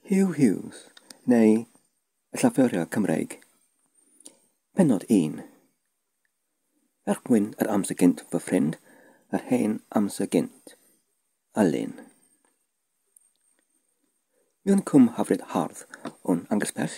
Huw Hughes, neu y llafuriog Cymreig. Penod 1. Er mwyn yr amser gynt fy ffrind, yr hen amser gynt. Alun. Miwn cwm hafryd hardd o'n angysbell,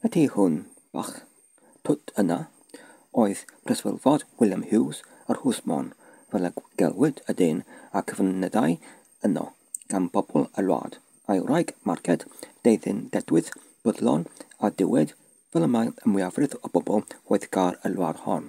Y tu hwn bach twt yna oedd preswylfod William Hughes yr Hwsmon, fel y gelwid y dyn a cyfyngedai yno gan bobl y wlad, a'i wraig Marged, deuddyn dedwydd, byddlon a diwyd, fel y mae y mwyafrif o bobl gweithgar y wlad hon.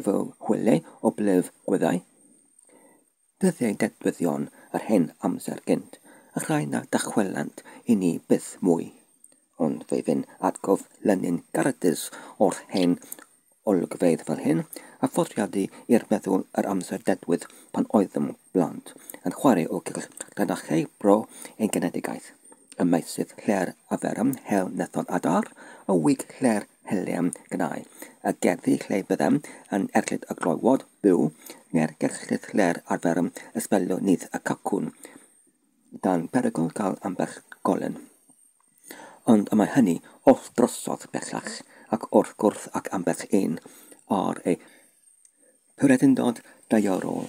efo chwileu o blef gwyddau, dyddiau dedfyddion yr hen amser gynt, y rhai na ddychwelant i ni byth mwy. Ond fe fyn atgof Lenin Garadis o'r hen olygfeydd fel hyn, a phoriadu i'r meddwl yr amser dedwydd pan oeddem blant, yn chwarae o gylch llinachau bro ein genedigaeth, y meysydd lle'r aferem hel nethon adar, y wig lle'r Helium Gynau, y gerddi lle byddem yn erlid y glywod byw, neu'r gerllid lle'r arferem ysbelio nyth y cacwn, dan berygl cael ambell golyn. Ond y mae hynny oll drosodd bellach, ac wrth gwrs ac ambell un ar ei Pwretyndod daearol.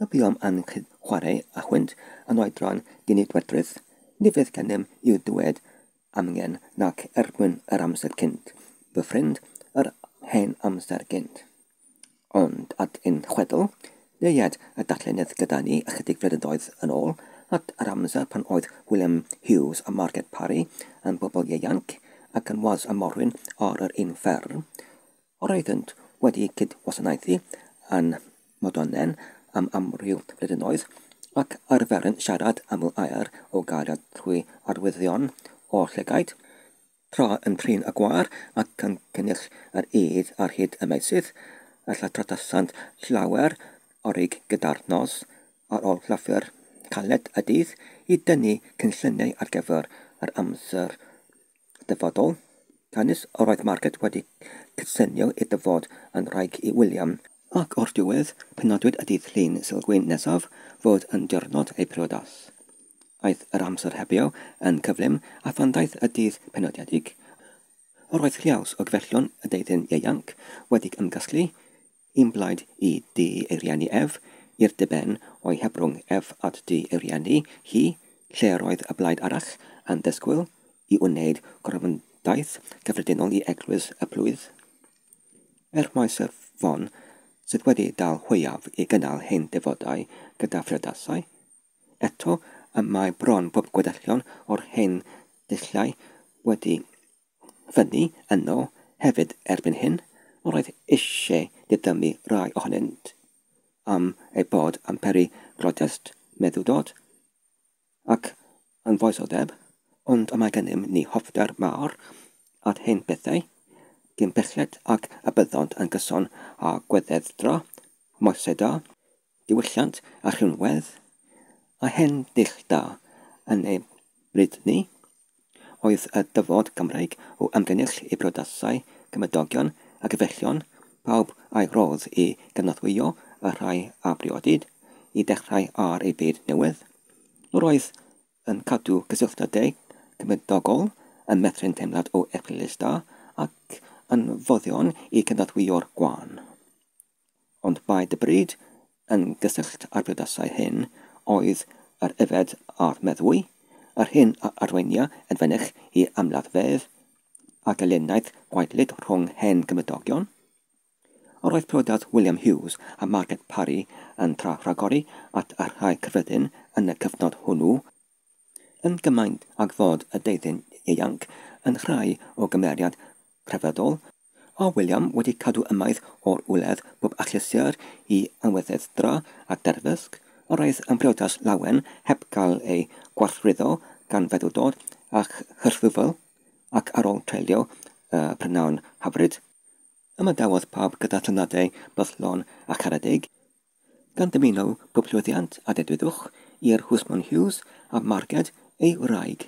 Y buom yn cyd-chwarae â chwynt yn oedran dinidwedrwydd, ni fydd gennym i'w ddweud amgen nac erbyn yr amser cynt, fy ffrind, yr hen amser gynt. Ond at ein chwedl, deued y darllenydd gyda ni ychydig flynyddoedd yn ôl, at yr amser pan oedd William Hughes a Margaret Parry yn bobl ieuanc ac yn was a morwyn ar yr un fferm, Roeddent wedi cydwasanaethu yn Modonnen am amryw flynyddoedd, ac arferent siarad aml aer o gariad trwy arwyddion o llygaid, tra yn trin y gwar ac yn cynnyrch yr ŷd ar hyd y meysydd, a lle trattasant llawer o ryg gyda'r nos, ar ôl llyfr caled y dydd, i dynnu cynlluniau ar gyfer yr amser Dyfodol, Canys yr oedd Margaret wedi cydsynio i dyfod yn wraig i William, ac o'r diwedd penodwyd y dydd Llun Sulgwyn nesaf fod yn diwrnod ei priodas, aeth yr amser hebio yn cyflym, a phan ddaeth y dydd penodiedig, yr oedd lliaws o gyfellion y deuddyn ieuanc wedi'g ymgasglu Yn blaid i Dŷ ei rieni ef, i'r diben o'i hebrwng ef at dŷ ei rieni hi, lle yr oedd y blaid arall yn disgwyl i wneyd gorymdaith gyffredinol i Eglwys y Plwyf. Er mai Sir Fon sydd wedi dal hwyaf i gynnal hen defodau gyda phrydasau, eto y mae bron pob gwedellion o'r hen dulliau wedi fyny yno hefyd erbyn hyn, yr oedd eisiau didymu rhai ohonynt am eu bod yn peri protest meddu Dodd. Ac yn foesodeb, ond y mae gennym ni hoffter mawr at hen bethau, cyn belled ac y byddant yn gyson â gweddedra Moesedau, Diwylliant a rhinwedd, a hen dull da yn ei bryd ni, oedd y dyfod Gymreig o ymgynnull i briodasau, cymydogion a gyfellion, pawb a'i rodd i gynorthwyo y rhai a briodid i ddechrau ar ei byd newydd. Yr oedd yn cadw cysylltydau cymydogol yn meithrin teimlad o erchyllus da ac yn foddion i gynorthwyo'r gwan. Ond mae dy bryd yn gysyllt â'r brydasau hyn oedd yr yfed a'r meddwi, yr hyn a arweinia yn fynych i amladdfedd a gelyniaeth gwaedlyd rhwng hen gymydogion. Yr oedd priodas William Hughes a Margaret Parry yn tra rhagori at y rhai cyffredin yn y cyfnod hwnnw, yn gymaint ag fod y deuddyn ieuanc yn rhai o gymeriad crefyddol, a William wedi cadw ymaith o'r wledd bob achlysur i anweddedra a derfysg, yr aeth yn briodas lawen heb gael ei gwarthwyddo gan feddwdod a chyrchfyfl, ac ar ol treulio y prynawn hyfryd, ymadawodd pawb gyda thyngladau bythlon a charedig, gan dymuno pob llwyddiant a dedwyddwch i'r Husmon Hughes a Marged ei wraig.